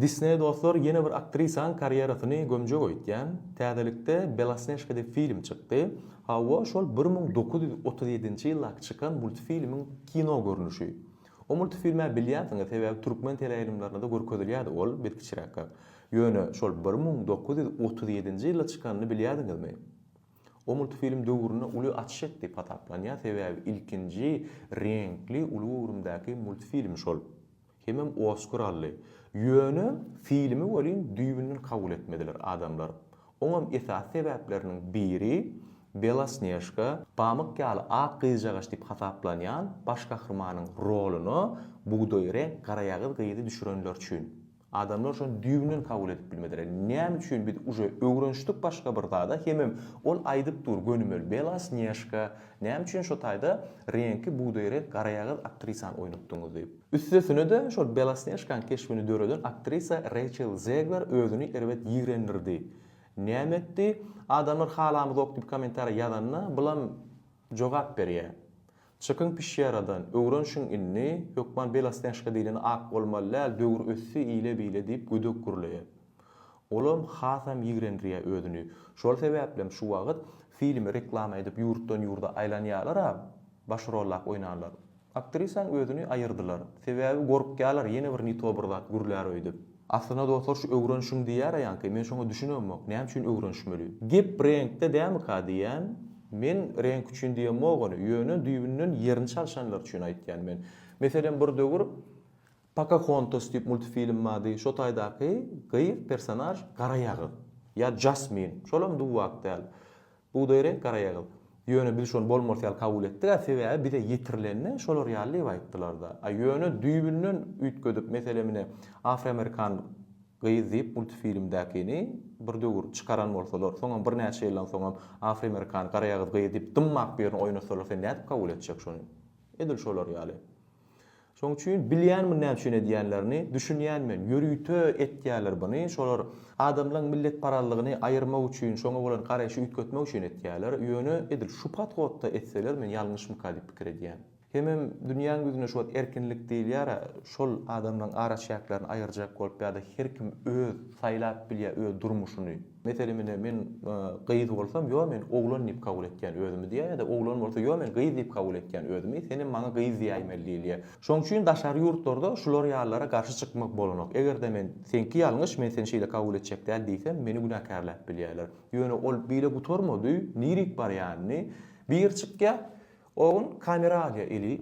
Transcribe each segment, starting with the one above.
Disney dostlar ýene bir aktrisaň karýerasyny gömjek öýtýän, täzelikde Belosnežka diýip film çykdy. Hawa şol bir müň dokuz ýüz otuz ýedinji ýyldaky çykan multfilmiň kino görnüşi. O multfilmä bilýänsiňiz sebäbi türkmen teleýaýlymlarynada görkezilýädi ol biz kiçiräkkä. Ýöne şol bir müň dokuz ýüz otuz ýedinji ýylda çykanyny bilýädiňizmi? O multfilm döwründe uly açyş etdi diýip hasaplanýar sebäbi ilkinji reňkli uly göwrümdäki multfilm şol. Hemem Oskar aldy. Ýöne filmi welin düýbünden kabul etmediler adamlar. Oňam esasy sebäpleriniň biri Belasnežka, pamyk ýaly ak gyzjagaş diýip hasaplanýan baş gahrymanyň roluna bugdaý reňk garaýagyz gyzy düşürenler üçin. Adamlar şony düýbünden kabul edip bilmediler. Näme üçin biz uje öwrenişdik başga bir zada hemem ol aýdyp dur gönümel Belasnežka näme üçin şo taýda reňki bugdaý reňk garaýagyz aktrisany oýnatdyňyz diýip. Üstesine-de, şol Belosnežkanyň keşbini döreden aktrisa Reýçel Zegler özüni erbet ýigrendirdi. Näme etdi? Adamlar halamyzok diýip kommentariýa ýazanda, bulam jogap berýär. Çykyň pişýä aradan, öwrenşiň indi, hökman Belosnežka diýleni ak bolmaly däl, döwür ösdi, ile-bile diýip gödek gürleýär. Olam hasam ýigrendirýär özüni. Şol sebäplem şu wagt filmi reklama edip ýurtdan-ýurda aýlanýarlar-a, baş rollap oýnanlar. Aktrisaň özüni aýyrdylar. Sebäbi gorkýalar ýene bir nito bir zat gürlär öýdüp. Aslynda dostlar şu öwrenşiň diýýär aýanki men şoňa düşünemok näme üçin öwrenişmeli. Gep reňkde dämika diýýän men reňk üçin diýemok ony ýöne düýbünden ýerini çalşanlar üçin aýtýan men. Meselem bir döwür Pokahontas diýip multfilm bardy şo taýdaky gyz personaž gara ýagyz ýa Jasmin şolam duwwak däl. Bugdaý reňk garaýagyz. Ýöne biz şony bolmarys ýaly kabul etdik-ä, sebäbi bize ýetirilende şolar ýaly diýip aýtdylar-da. A ýöne düýbünden üýtgedip, meselem ine, afroamerikan gyz diýip multfilmdäkini bir döwür çykaran bolsalar, soňam birnäçe ýyldan soňam afroamerikan garaýagyz gyz diýip dymmak birini oýnatsalar sen nädip kabul etjek şony? Edil şolar ýaly. Şoň üçin bilýän muny näme üçin edýänlerini, düşünýän men, ýörite etýäler buny, şolar adamlaň milletparazlygyny aýyrmak üçin, şoňa bolan garaýşy üýtgetmek üçin etýäler, ýöne edil şu podhodda etseler men ýalňyşmyka diýip pikir edýän. Hemem dünýäň ýüzünde şu wagt erkinlik diýilýär-ä, şol adamlaň araçäklerini aýyrjak bolup ýa-da her kim öz saýlap bilýä öz durmuşyny. Meselem ine men gyz bolsam ýo men oglan diýip kabul etýän özümi diýýär ýa-da oglan bolsa ýo men gyz diýip kabul etýän özümi sen hem maňa gyz diýäýmeli diýilýär. Şoň üçin daşary ýurtlarda şular ýalylara garşy çykmak bolanok. Eger-de men seňki ýalňyş men seni şeýle kabul etjek däl diýsem meni günäkärläp bilýärler. Ýöne ol bile gutarmady nirik barýanyny bir çykýar o gün kamera alýar eli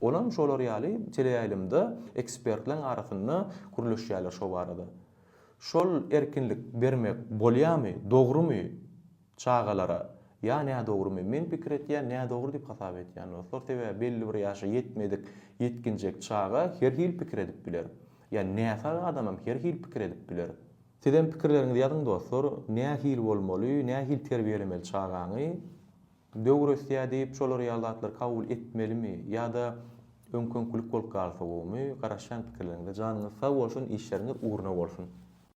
Olam şolar ýaly teleýaýlymda ekspertleň arasynda gürleşýäler şo barada. Şol erkinlik bermek bolýamy, dogrumy çagalara ýa nädogrumy? Men pikir etýän nädogry diýip hasap etýän dostlar. Sebäbi belli bir ýaşa ýetmedik ýetginjek çaga her hil pikir edip biler. Ýa näsag adamam her hil pikir edip biler. Sizem pikirleriňizi ýazyň dostlar, nähil bolmaly, nähil terbiýelemeli çagaňy? Döwresýä diýip şolar ýaly zatlary kabul etmelimi ýa-da öňküňkilik bolup galsa gowumy garaşýan pikirleriňize janyňyz sag bolsun işleriňiz ugruna bolsun.